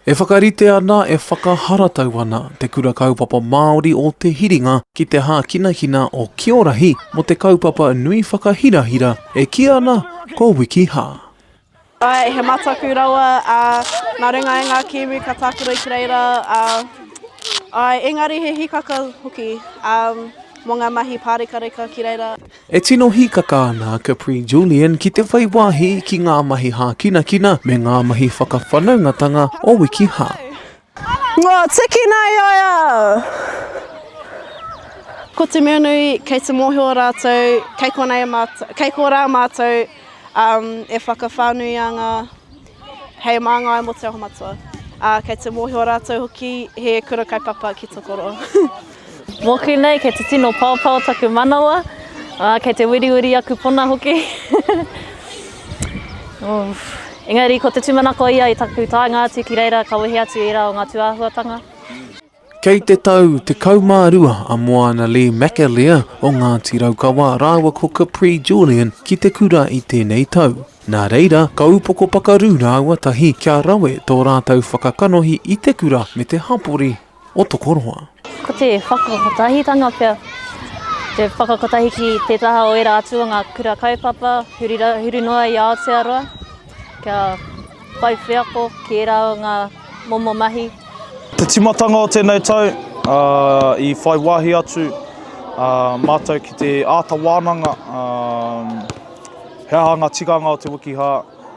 E whakarite ana, e whakaharatau ana Te Kura Kaupapa Māori o Te Hiringa ki te hākinakina o Kiorahi mō te kaupapa nui whakahirahira e kī ana ko Wikiha. Ae, he mataku rawa, ā, nā runga i ngā Kiwi ka tākaro ki reira, ā, ae, engari he hikaka hoki, ā, mō ngā mahi pārekareka ki reira. E tino hīkaka ana a Capri Julian ki te whai wāhi ki ngā mahi hākinakina me ngā mahi whakawhanaungatanga o Wikiha. Ngā tiki nei ai au! Ko te mea nui, kei te mōhio rātou, kei konei mātou, kei korā mātou e whakawhānuianga. Hei māngai mō Te Aho Matua. Ā, kei te mōhio rātou hoki he kura kaupapa ki Tokoroa. Mōku nei, kei te tino paopao taku manawa, ā, kei te wiriwiri aku pona hoki. Ūff. Engari, ko te tūmanako ia i taku taenga atu ki reira ka wehe atu i ērā o ngā tūāhuatanga. Kei te tau 12 a Moana Lee McAleer o Ngāti Raukawa rāua ko Capri Julian ki te kura i tēnei tau. Nā reira, ka upoko pakaru rāua tahi kia rawe tō rātou whakakanohi i te kura me te hapori o Tokoroa. Ko te whakakotahitanga pea te whakakotahi ki te taha o ērā atu o ngā kura kaupapa huri noa i Aotearoa. Kia whai wheako ki ērā o ngā momo mahi. Te timatanga o tēnei tau, i whai wāhi atu mātou ki te āta wānanga he aha ngā tikanga o te wikihā,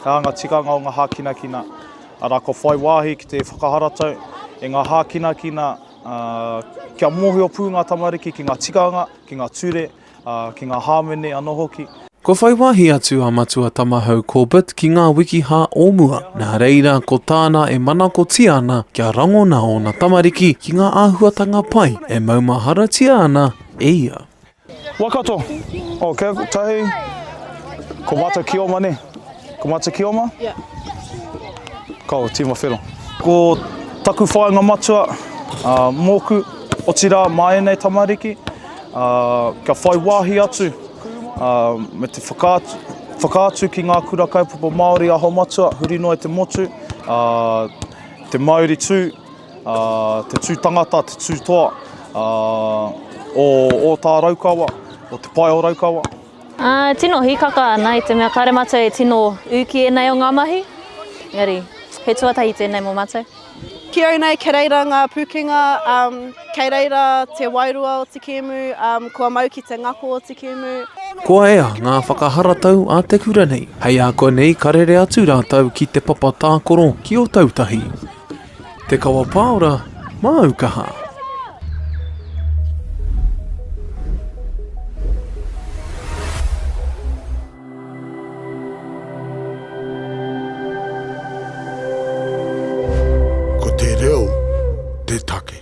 he aha ngā tikanga o ngā hākinakina, arā, kua whai wāhi ki te whakaharatau e ngā hākinakina kia mōhio pū ngā tamariki ki ngā tikanga, ki ngā ture, ā, ki ngā hāmene anō hoki. Kua whai wāhi atu a Matua Tamahau Corbett ki ngā wikiha o mua, nā reira ko tāna e manakotia ana kia rangona ōna tamariki ki ngā āhuatanga pai e maumaharatia ana e ia. Waikato, oh kia tahi ko matou kioma ne? Ko matou kioma? Ko au tima whero. Ko taku whainga matua, moku, otira ma enei tamariki. Ā, kia whai wāhi atu, ā, me te whakaatu, whakaatu ki ngā kura kaupapa Māori aho matua huri noa i te motu, ā, te mauri tū, ā, te tū tangata, te tū toa, ā, o Ōtāraukawa, o Te Pae o Raukawa. Ā, tino hīkaka ana i te mea kāre mātou e tino ū ki ēnei o ngā mahi, engari he tuatahi tēnei mō mātou. Ki au nei kei reira ngā pūkenga, um, kei reira te wairua o te kēmu, um, kua mau ki te ngako o te kēmu. Kua ea ngā whakaharatau a te kura nei. Hei a koe nei ka rere atu rātou ki te papa tākoro ki Otautahi. Te kawa pāora, māu kaha. Ko te reo te take.